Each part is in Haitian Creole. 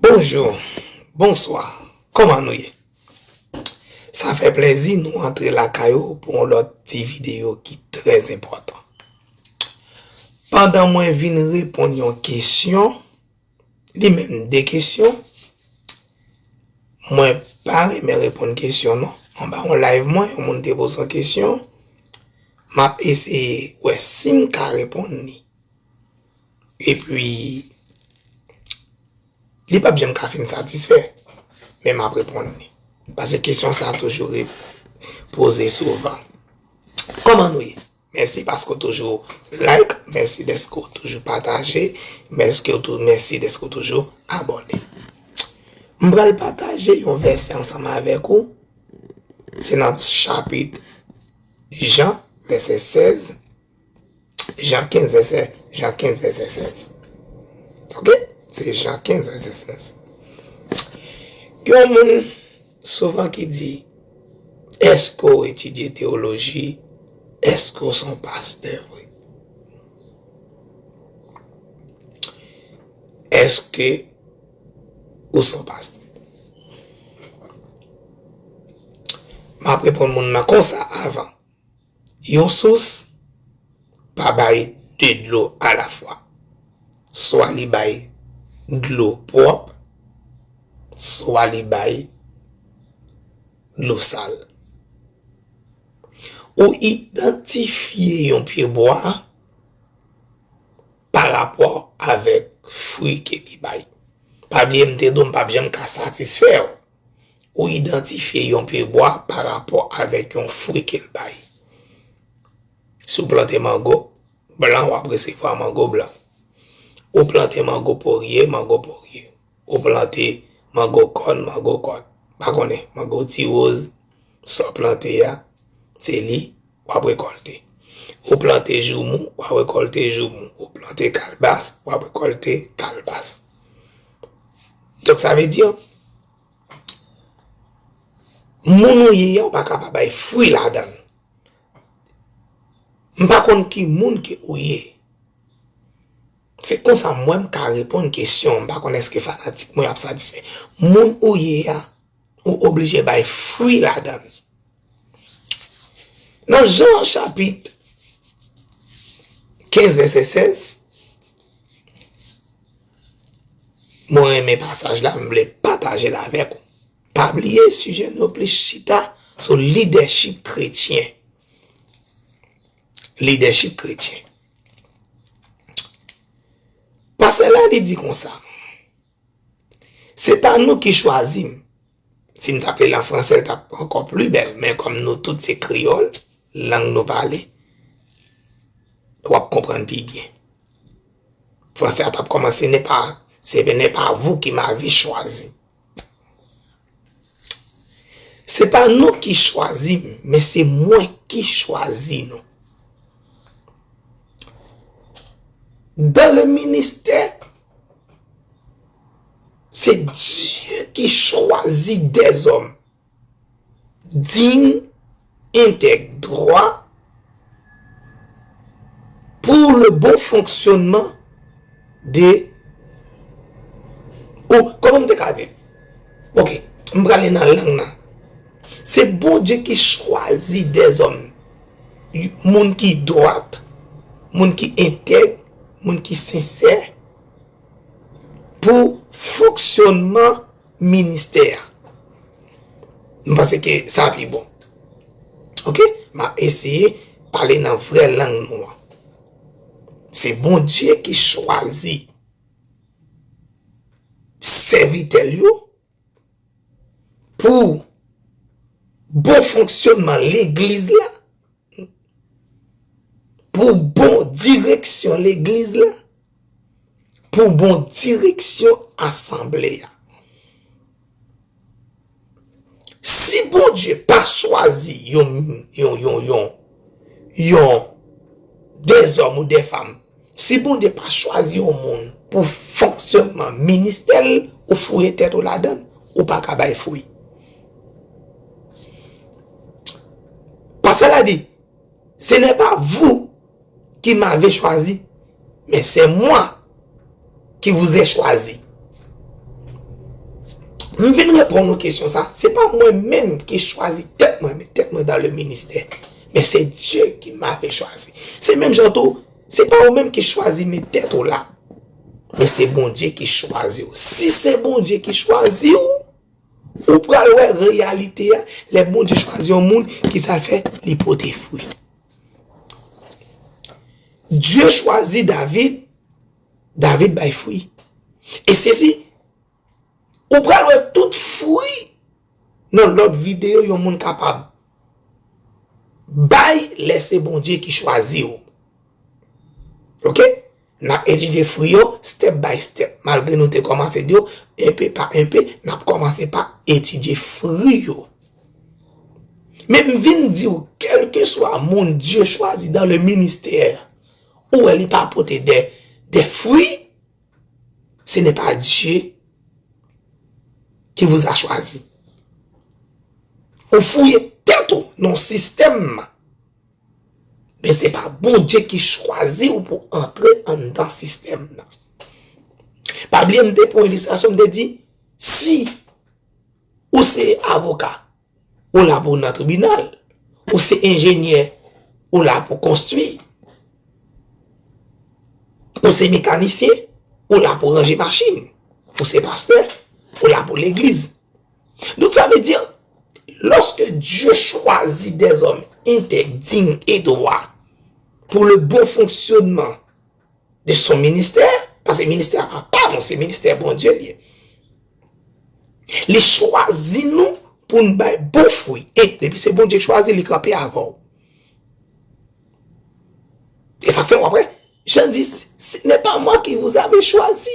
Bonjour, bonswa, kòman nou ye? Sa fè plèzi nou antre lakay ou pou yon lòt ti videyo ki trè enpòtan. Pandan mwen vin reponn yon kesyon, li menm 2 kesyon, mwen pa renmen reponn kesyon non. Anba yon live mwen, yon moun te poze yon kesyon, m ap eseye wè si m ka reponn li. Epi, li pap janm ka fin satisfè, men map reponn li. Pase kesyon sa toujou re poze souvan. Koman nou ye? Mèsi paske w toujou like, mèsi dèske w toujou pataje, mèske w tou, mèsi dèske w toujou abòne. M pral pataje yon vèsè ansanm avèk ou, se nan chapit Jan, vèsè 16. Jean 15 vèsè, Jean 15 vèsè 16. Ok? Se Jean 15 vèsè 16. Gen yon moun souvan ki di, eske ou etidye teoloji, eske ou son pastè vre? Eske ou son pastè? M ap reponn moun nan konsa avan. Yon sous pa bay 2 dlo alafwa. Swa li bay dlo pwòp, swa li bay dlo sal. Ou idantifye yon pye bwa pa rapò avèk fwi ke li bay. Pa bliye m te di w m pap janm ka satisfè w. ou idantifye yon pye bwa pa rapò avèk yon fwi ke l bay. Si w plante mango blan, w ap resevwa mango blan. Ou plante mango porye, mango porye. Ou plante mango kòn, mango kòn. Pa konnen, mango ti woz. Sa w plante a, se li w ap rekòlte. Ou plante joumou, w ap rekòlte joumou. Ou plante kalbas, w ap rekòlte kalbas. Donk sa vle di, moun ou ye a ou pa ka pa bay fwi ladan l. M pa konn ki moun ke ou ye. Se konsa mwen m ka reponn kesyon an. M pa konn èske fanatik mwen ap satisfè. Moun ou ye a. ou oblije bay fwi ladan. Nan Jan chapit 15 vèsè 16, mwen renmen pasaj la, mwen vle pataje l avèk ou. Pa bliye sijè nou yo plis chita sou lidèchip kretyen. Lidèchip kretyen. Pasaj la li di konsa. Se pa nou ki chwazi m. Si m t ap li l an franse, l t ap ankò pli bèl. Men kòm nou tout se kreyòl, lang nou pale, w ap konprann pi byen. Franse a t ap kòmanse, se pa vou ki m avi chwazi. Se pa nou ki chwazi m, men se mwen ki chwazi nou. Dan le ministè, se Dieu ki chwazi dè zòm. Dign entèg dwa pou le bon fonksyonman de ou kòman m te ka di ok m prale nan lang nan se Bondye ki chwazi dèzòm moun ki dwat moun ki entèg moun ki sensè pou fonksyonman ministè a. M panse ke sa pi bon. Ok, m ap eseye pale nan vrè lang nou an. Se Bondye ki chwazi sèvitè l yo pou bon fonksyonman legliz la, pou bon direksyon legliz la. pou bon direksyon asanble a. Si Bondye pa chwazi yon yon yon yon yon de zòm ou de fanm, si Bondye pa chwazi yon moun pou fonksyònman ministè l, ou fouye tèt ou ladan l, ou pa ka bay fwi. Pastè la di, se nè pa vou. ki mave chwazi, men se mwa ki vouze chwazi. M vin repon nou kesyon sa, se pa mwen menm ki chwazi tèt mwen, men tèt mwen dan le ministè. Men se Dye ki mave chwazi. Se menm jan tou, se pa ou menm ki chwazi men tèt ou la. Men se Bondye ki chwazi ou. Si se Bondye ki chwazi ou, ou pral wè reyalite a, le Bondye chwazi yon moun, ki sa l fè? Li pote fwi. Dye chwazi David, David bay fwi. E sezi, ou pral wè tout fwi nan lòt videyo yon moun kapab bay lè se Bondye ki chwazi ou. Ok? N ap etidye fwi yo step by step. Malgre nou te kòmanse di yo enpe pa enpe, n ap kòmanse pa etidye fri yo. Men m vin di w, kèlkeswa moun Dye chwazi dan le ministè, ou wè li pa pote de fwi, se nè pa Dye ki vouza chwazi. Ou fouye tèt ou nan sistèm. Men se pa Bondye ki chwazi ou pou antre anndan sistèm nan. Pa bliye m te pran yon ilistrasyon m te di, si ou se avoka, ou la pou nan tribinal, ou se enjenyè, ou la pou konstwi, ou se mekanisyen, ou la pou ranje machin, ou se pastè, ou la pou legliz. Donk sa vle di, lòske Dye chwazi dèzòm entèg, dign e dwa pou le bon fonksyonman de son ministè, pase ministè a pa pa nou, se ministè a Bondye li ye. Li chwazi nou pou nou bay bon fwi. E, depi se Bondye chwazi, li kanpe avè w. E sa fè w apre, Jan di, se nè pa mwa ki vouzave chwazi.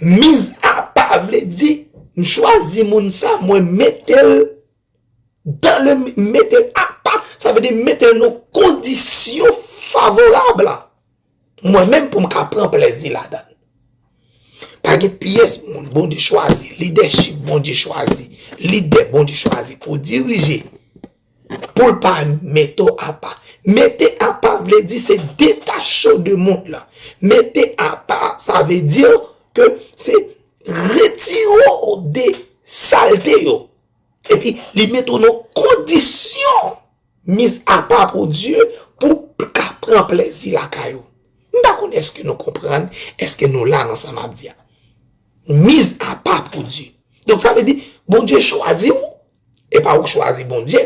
Miz apa vle di m chwazi moun sa mwen mete l dan le m mete l apa sa vle di m mete l nan kondisyon favorab la mwen menm pou m ka pran plèzi ladan l. Pa gen pyès moun Bondye chwazi, lidèchip Bondye chwazi, lidè Bondye chwazi pou dirije. Pou l pa mete w apa. Mete apa vle di se detache w de mond lan. Mete apa sa vle di ke se retire w de salte yo. Epi li mete w nan kondisyon mis apa pou Dieu pou w ka pran plezi lakay ou. M pa konnen eske nou konprann, eske nou la nan sa m ap di a. Mis apa pou Dieu. Donk sa vle di Bondye chwazi w. E pa ou k chwazi Bondye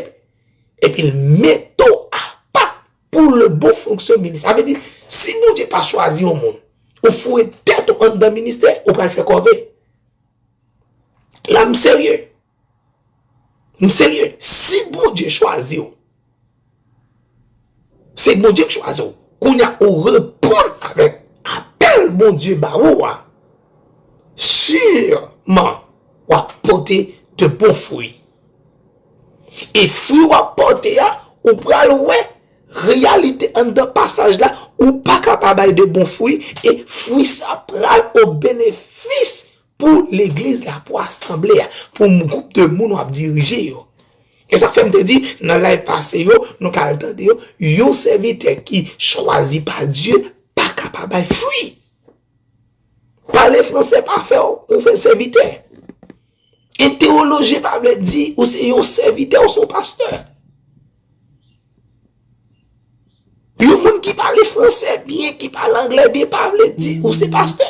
epi l mete w apa pou le bon fonksyon minis. Sa vle di, si Bondye pa chwazi yon moun, ou foure tèt ou anndan ministè, ou pral fè kòve. La m serye. M serye. Si Bondye chwazi w. Se Bondye ki chwazi w. Kounya ou reponn avèk apèl Bondye ba ou a, siman w ap pote de bon fwi. E fwi w ap pote a, ou pral wè reyalite anndan pasaj la, ou pa ka pa bay de bon fwi, e fwi sa pral o benefis Pou legliz la, pou asanble a, pou gwoup de moun w ap dirije yo. E sa fè m te di nan live pase yo, nou ka al tande yo, yon sèvitè ki chwazi pa Dye pa ka pa bay fwi. Pale franse pa fè w ou fè sèvitè. E tewoloji pa vle di ou se yon sèvitè ou se yon pastè. Yon moun ki pale franse byen, ki pale angle byen pa vle di ou se pastè.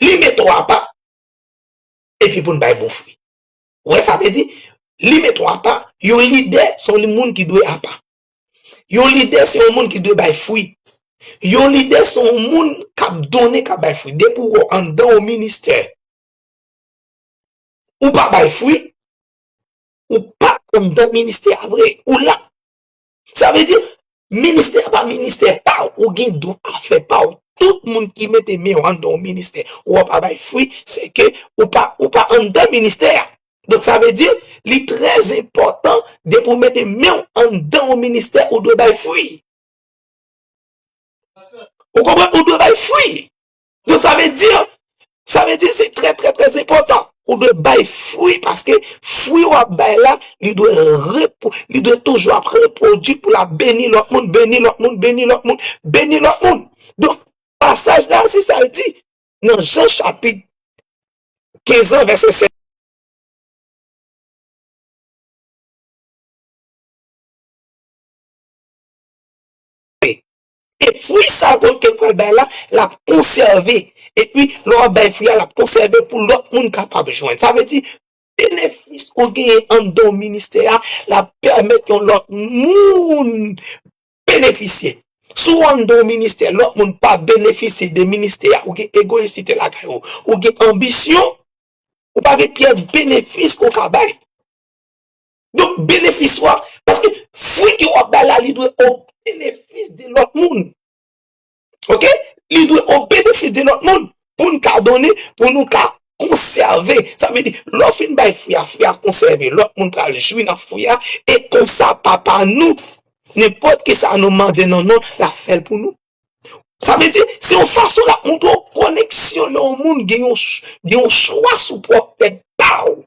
Li mete w apa epi pou n bay bon fwi. Ou wè sa vle di? Li mete w apa, yon lidè se yon moun ki dwe apa. Yon lidè se yon moun ki dwe bay fwi. Yon lidè se yon moun k ap donnen, k ap bay fwi. Depi w anndan yon ministè, ou pa bay fwi, ou pa anndan ministè a vre. Ou la. Sa vle di, ministè a pa ministè pa w, ou gen dwa fè pa w. Tout moun ki mete men yo anndan yon ministè, ou wè w pa bay fwi, se ke ou pa, ou pa anndan ministè a. Donk sa vle di, li trè enpòtan, depi ou mete men w anndan yon ministè, ou dwe bay fwi. Ou konprann? Ou dwe bay fwi. Donk sa vle di, sa vle di se trè trè trè enpòtan ou dwe bay fwi paske fwi w ap bay la li dwe repo, li dwe toujou ap repwodui pou l ap beni lòt moun, beni lòt moun, beni lòt moun, beni lòt moun. Donk pasaj la se sa l di nan Jan chapit 15 an vèsè 7. E fwi sa ke w te pral bay la, l ap konsève. Epi, lè w ap bay fwi a, l ap konsève pou lòt moun kapab jwenn. Sa vle di, benefis ou genyen anndan w ministè a, l ap pèmèt yon lòt moun benefisye. Si w anndan w ministè, lòt moun pa benefisye de ministè a, ou gen egoyisite lakay ou, ou gen anbisyon, ou pa gen pyès benefis ke w ka bay. Donk benefis ou a, paske fwi ke wap bay la li dwe o benefis de lòt moun. Ok, li dwe o benefis de lòt moun pou n ka done, pou nou ka konsève. Sa vle di, lè w fin bay fwi a, fwi a konsève, lòt moun pral jwi nan fwi a, e konsa Papa nou, nenpòt ki sa nou mande nan non l, l ap fè l pou nou. Sa vle di, se yon fason l ap montre w koneksyon lè yon moun gen yon gen yon chwa sou pwòp tèt pa w.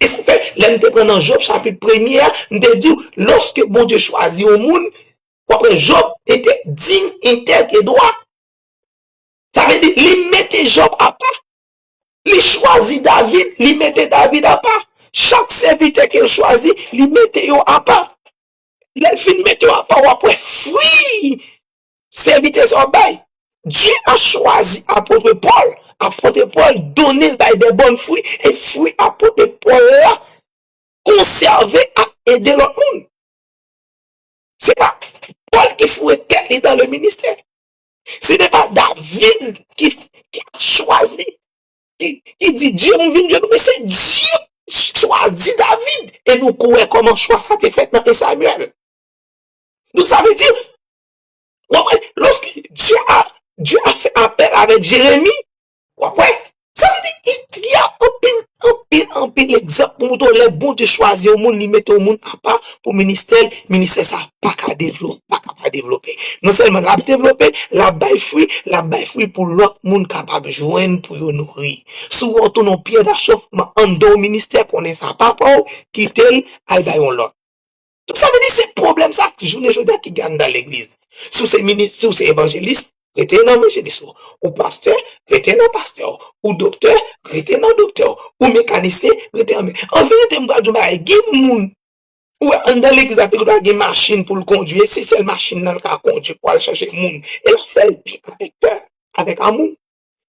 E sa fè, lè n te pran nan Jòb chapit premye a, m te di w, lòske Bondye chwazi yon moun, w ap wè Jòb te te dign, entèg e dwa. Sa vle di, li mete Jòb apa. Li chwazi David, li mete David apa. Chak sèvitè ke l chwazi, li mete yo apa. Lè l fin mete yo apa, w ap wè fwi Sèvitè sa w ap bay? Dye a chwazi apotre Pòl, apotre Pòl donnen l bay de bòn fwi, e fwi apotre Pòl la konsève ak ede lòt moun. Se pa Pòl ki foure tèt li dan le ministè. Se te pa David ki chwazi, ki di Dye nou vin dye nou, men se Dye ki chwazi David. E nou kwè kòman chwa sa te fèt nan 1 Samuel. Donk sa vle di, wap wè, loske Dye a, Dye a fè apèl avèk Jeremi, wap wè, sa vle di, il y a anpil, anpil, anpil egzanp pou moutre w lè Bondye chwazi yon moun, li mete yon moun apa pou ministè l, ministè sa pa ka devlo, pa ka pa devlope. Non sèlman lap devlope, lap bay fwi, lap bay fwi pou lòt moun kapab jwenn pou yo nouri. Si w wè w tounen yon pyè dachòfman anndan yon ministè, konnen sa pa pa w, kite l, al bay yon lòt. Donk sa vle di se pwoblèm sa ki jounen jodi a ki gen anndan legliz. Si w se minis, si w se evanjelis, rete nan evanjelis ou. Ou pastè, rete nan pastè w. Ou doktè, rete nan doktè w. Ou mekanisyen, rete nan mekanisyen. An verite m pral di w yon bagay, gen moun ou wè anndan legliz la te dwa gen machin pou l kondui e se sèl machin nan l ka kondui pou al chache moun e l ap fè l pi avèk kè, avèk amou.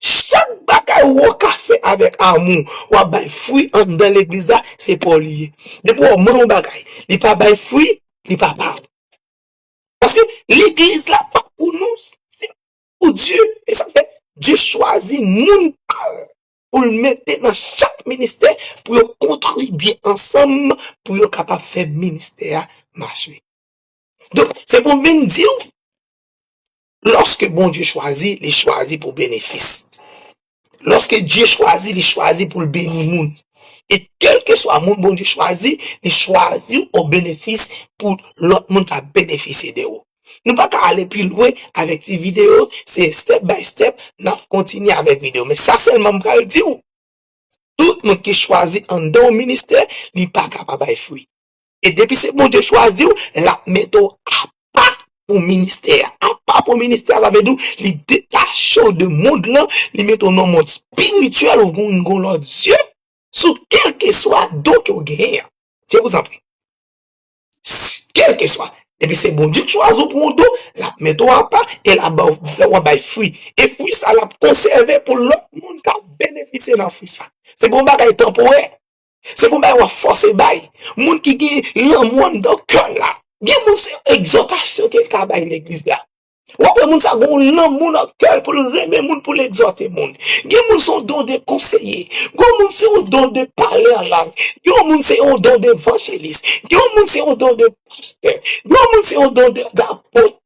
Chak bagay wou ka fè avèk amou wap bay fwi anndan legliz la se paw li ye depi wap mande yon bagay li pa bay fwi li pa paw paske legliz la pa pou nou se pou Dye esak fè Dye chwazi moun pal poul mete nan chak ministè pou yo kontribye ansanm pou yo kapab fè ministè a mache donk se poum vin diw Lòske Bondye chwazi, li chwazi pou benefis. Lòske Dye chwazi, li chwazi pou l beni moun. E kèlkeswa moun Bondye chwazi, li chwazi w obenefis pou lòt moun ka benefisye de ou. Nou pa ka ale pi lwen avèk ti videyo, se step by step n ap kontinye avèk videyo. Men sa sèlman m pral di w, tout moun ki chwazi anndan yon ministè, li pa ka pa bay fwi. E depi se Bondye chwazi w, lap mete w apa pou ministè a. Apa pou ministè a sa vle di w li detache w de mond lan, li mete w nan yon mond espirityèl ou vin gen yon lòt zye sou kèlkeswa don ke w genyen an. Je vous en prie. Kèlkeswa, depi se Bondye k chwazi w pou yon don, lap mete w apa e lap ba w, wap bay fwi. E fwi sa lap konsève pou lòt moun ka benefisye nan fwi sa. Se pa yon bagay tanporè. Se pou bay wap fòse bay. Moun ki gen lanmou anndan kèl la. Gen moun se egzòtasyon kel ka bay legliz la. Wap wè moun sa gen yon lanmou nan kèl poul renmen moun poul egzòte moun. Gen moun son don de konseye. Gen yon moun se yon don de pale an lang. Gen yon moun se yon don de vanjelis. Gen yon moun se yon don de pastè. Gen yon moun se yon don de dapot.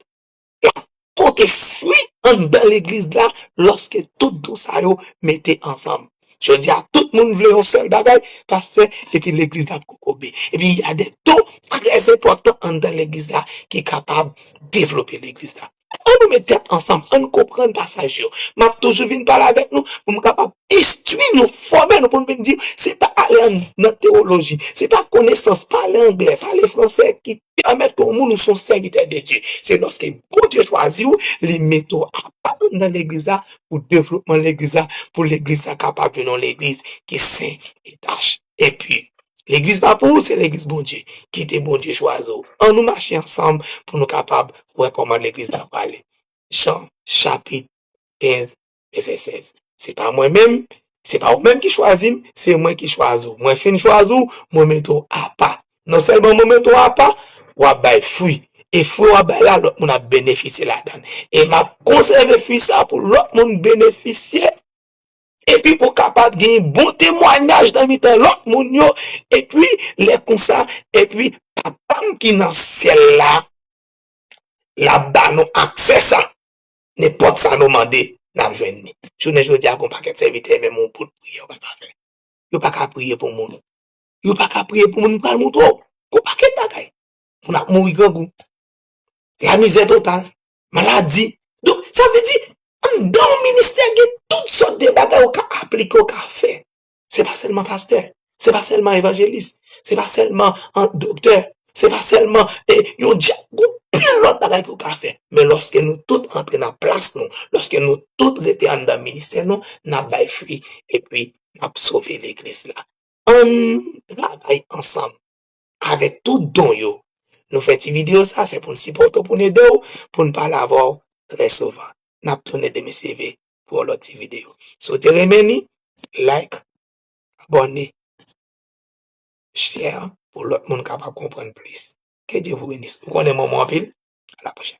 kap pote fwi anndan legliz la lòske tout don sa yo mete ansanm. Jodi a tout moun vle yon sèl bagay, pastè epi legliz la ap kokobe. Epi y a de don trè enpòtan anndan legliz la ki kapab devlope legliz la. An nou met tèt ansanm, an n konprann pasaj yo. M ap toujou vin pale avèk nou pou m kapab Istwi nou fò men nou konn vin di se pa ale nan tewoloji, se pa konesans, pale angle, pale franse ki pèmèt ke w moun ou se yon sèvitè de Dye. Se lòske Bondye chwazi w, li mete w apa anndan legliz la pou devlopman legliz la, pou legliz la kapab vin yon legliz ki sen, ki tach e pu. Legliz pa pou ou, se legliz Bondye. Kite Bondye chwazi w. An nou mache ansanm pou nou kapab wè kòman legliz la prale. Jan chapit 15 96. Se pa mwen menm, se pa ou menm ki chwazi m, se mwen ki chwazi ou. Mwen fin chwazi ou, mwen mete ou apa. Non sèlman mwen mete ou apa, w ap bay fwi. E fwi w ap bay la, lòt moun ap benefisye ladan l. E m ap konsève fwi sa pou lòt moun benefisye. Epi pou kapab gen yon bon temwanyaj nan mitan lòt moun yo. Epi lè konsa, epi Papa m ki nan syèl la, l ap ba nou aksè sa. Nenpòt sa nou mande, n ap jwenn li. Jounen jodi a, gen yon pakèt sèvitè, menm yon bout priyè yo pa ka fè. Yo pa ka priye pou moun. Yo pa ka priye pou moun, m pral montre w. Gen yon pakèt bagay. Moun ap mouri grangou. Lamizè total. Maladi. Donk, sa vle di, anndan yon ministè gen tout sòt de bagay ou ka aplike, ou ka fè. Se pa sèlman pastè, se pa sèlman evanjelis, se pa sèlman doktè, se pa sèlman e yon dya, gon pil lòt bagay ke w ka fè. Men lòske nou tout antre nan plas nou, lòske nou tout rete anndan ministè nou, n ap bay fwi epi n ap sove legliz la. Ann travay ansanm avèk tout don yo. Nou fè ti videyo sa, se pou n sipòte w, pou n ede w, pou n pale avè w trè souvan. N ap tounen demen CV pou yon lòt ti video. Si w te renmen li, like, abòne, share pou lòt moun kapab konprann plis. Ke Dye vou benis. Ou konnen m renmen w anpil. A la pwochèn.